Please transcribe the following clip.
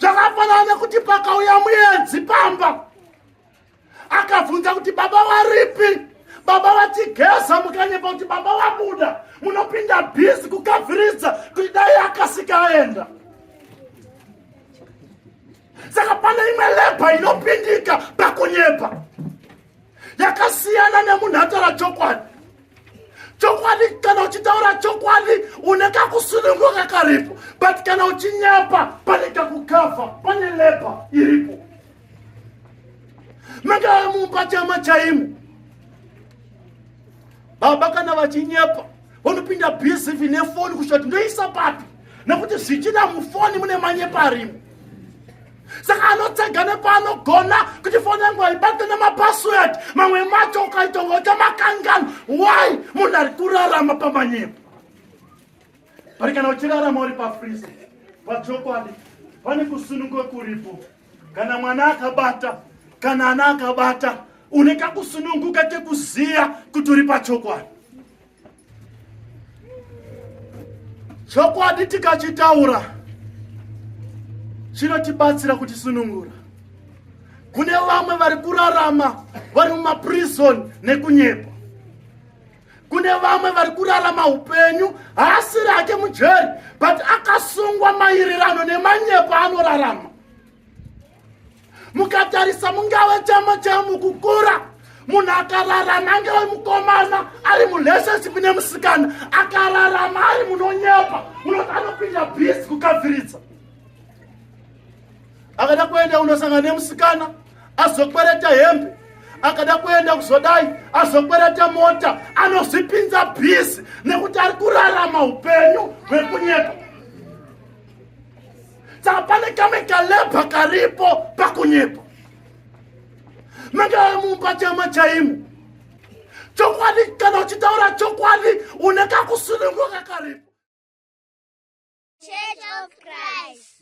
zvakafanana nekuti pakauya muedzi pamba akabvunza kuti baba varipi baba vatigeza mukanyepa kuti baba vabuda munopinda bhizi kukavhiridza kuti dai akasika aenda saka pane imwe lebha inopindika pakunyepa yakasiyana nemunhu ataura chokwadi chokwadi kana uchitaura chokwadi une kakusununguka karipo but kana uchinyapa pane kakukavha pane lepa iripo mangava mumba chama chaimo baba kana vachinyepa vanopinda bsv nefoni kusvika kuti ndoisa papi nekuti zvichida mufoni mune manyepa arimo saka anotsega nepaanogona kuti foni yangu haibate nemapassword mamwe macho ukaitonga utamakangano why munhu ari kurarama pamanyepo pari kana uchirarama uri pafrizi pachokwadi pane kusunungwa kuripo kana mwana akabata kana ana akabata une kakusununguka kekuziva kuti uri pachokwadi chokwadi tikachitaura chinotibatsira kutisunungura kune vamwe vari kurarama vari mumaprizoni nekunyepa kune vamwe vari kurarama upenyu haasiri ake mujeri but akasungwa mairerano nemanyepo anorarama mukatarisa mungave chama chamukukura munhu akararama angave mukomana ari murelationship nemusikana akararama ari munonyepa munoti anopinda bhizi kukadziridza akada kuenda unosangana nemusikana azokwereta hembe akada kuenda kuzodai azokwereta mota anozvipinza bhizi nekuti ari kurarama upenyu hwekunyepa saka pane kamwe kalebha karipo pakunyepa mangava mumba chama chaimo chokwadi kana uchitaura chokwadi une kakusununguka karipo Church of Christ.